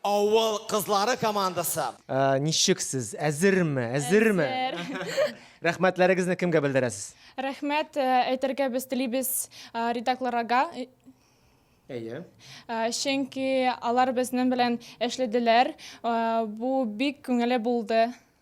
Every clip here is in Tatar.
Авыл кызлары командасы. Ә, ничек сез? Әзерме? Әзерме? Әзер. Рәхмәтләрегезне кемгә белдерәсез? Рәхмәт э, әйтергә без телибез э, редакторларга, э, Әйе. э, чөнки алар безнең белән эшләделәр. Э, Бу бик күңелле булды.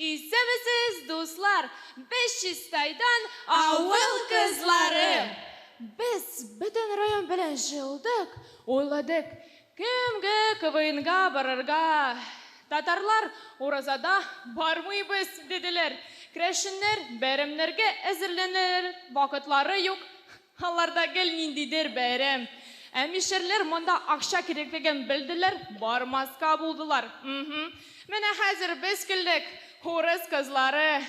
Исәнмесез, дуслар! Без Чистайдан, авыл кызлары. Без бөтен район белән җыелдык, уйладык, кемгә КВНга барырга. Татарлар уразада бармыйбыз, диделәр. Керәшеннәр бәйрәмнәргә әзерләнер вакытлары юк. Аларда гел ниндидер бәйрәм. Ә мишәрләр монда акча кирәклеген белделәр, бармаска булдылар. Мһм. Менә хәзер без килдек. Урыс кызлары.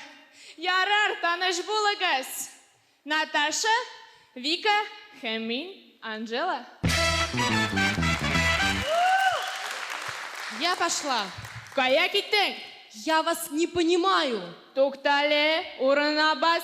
Ярар, таныш булыгыз! Наташа, Вика һәм мин, Анжела. Я пошла. Кая киттең? Я вас не понимаю. Туктале, урынына бас.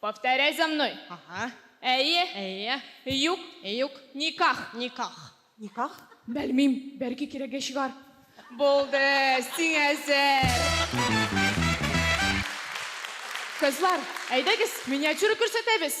Повторяй за мной. Ага. Әйе. Әйе. Юк. Юк. Никах. Никах. Никах? Белмим, бәлки кирәге чыгар. Булды, сиңа әзер. Кызлар, әйдәгез, миниатюра күрсәтәбез.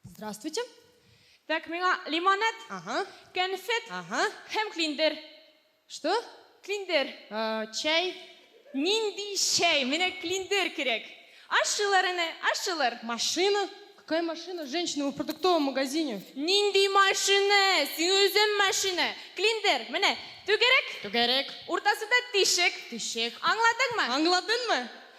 Здравствуйте. Так, миңа лимонад, Ага. конфет Ага. һәм клиндер. Что? Клиндер. Э, чәй. Нинди чәй? Менә клиндер кирәк. Ашчылар әнә, ашчылар. Машина? Какая машина? Женщина, мы в продуктовом магазине. Нинди машина? Син үзең машина. Клиндер, менә, түгәрәк. Түгәрәк. Уртасында тишек. Тишек. Аңладыңмы? Аңладыңмы?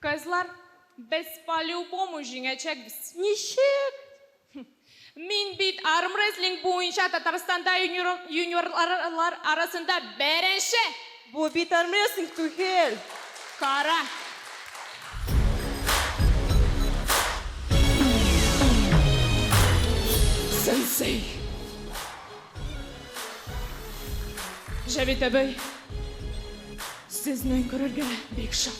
Кызлар, без по-любому җиңәчәкбез! Ничек? Мин бит армрестлинг буенча Татарстанда юниорлар арасында беренче! Бу бит армрестлинг түгел! Кара! Сенсей! Җәвит әбей! Сезне күрергә бик шат.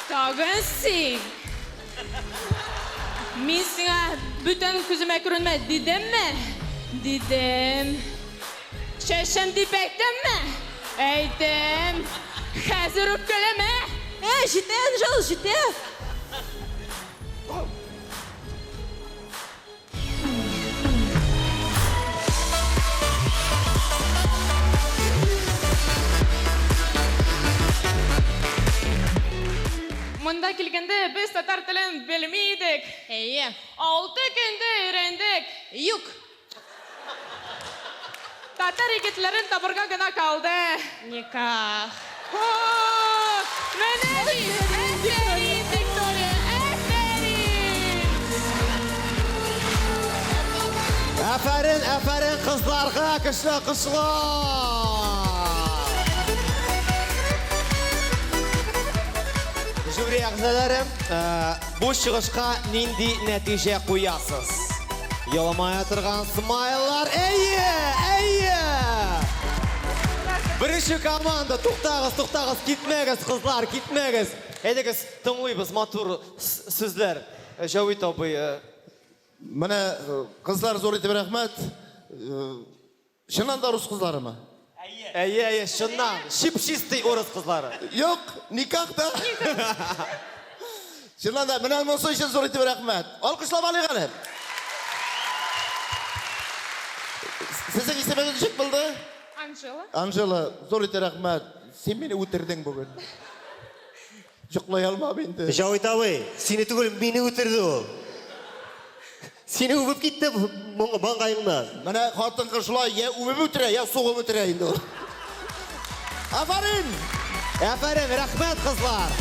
Тагын син. Мин сиңа бүтән күземә күренмә дидемме? Дидем. Чәчем дип әйттемме? Әйттем. Хәзер үпкәләмә. Ә, җитә, Энжел, җитә. Монда килгәндә без татар телен белми идек. Әйе. Алты көндә өйрәндек. Юк. Татар егетләрен табырга гына калды. Никах. О, менә бит! Әфәрин, Виктория, әфәрин! Әфәрин, әфәрин кызларга, көчле алкышлар! Жюри әгъзалары, э, Бу чыгышка нинди нәтиҗә куясыз? Еламая торган смайлар. Әйе! Әйе! Беренче команда, туктагыз, туктагыз, китмәгез, кызлар, китмәгез. Әйдәгез, тыңлыйбыз матур сүзләр. Э, Җавит абый. Э. Менә э, кызлар зур итеп рәхмәт. Чыннан да урыс кызларымы? Әйе, әйе, чыннан, чип-чистый урыс кызлары. Юк, никах та. Чыннан да, менә монысы өчен зур итеп рәхмәт. Алкышлап алыйк әле. Сезнең исемегез ничек булды? Анжела. Анжела, зур итеп рәхмәт. Син мине үтердең бүген. Йоклый алмам инде. Җавит абый, сине түгел, мине үтерде ул. Сине үбеп китте маңгаеңнан. Менә хатын-кыз шулай я үбеп үтерә, я сугып үтерә инде ул. Афарин! Афарин, рәхмәт, кызлар!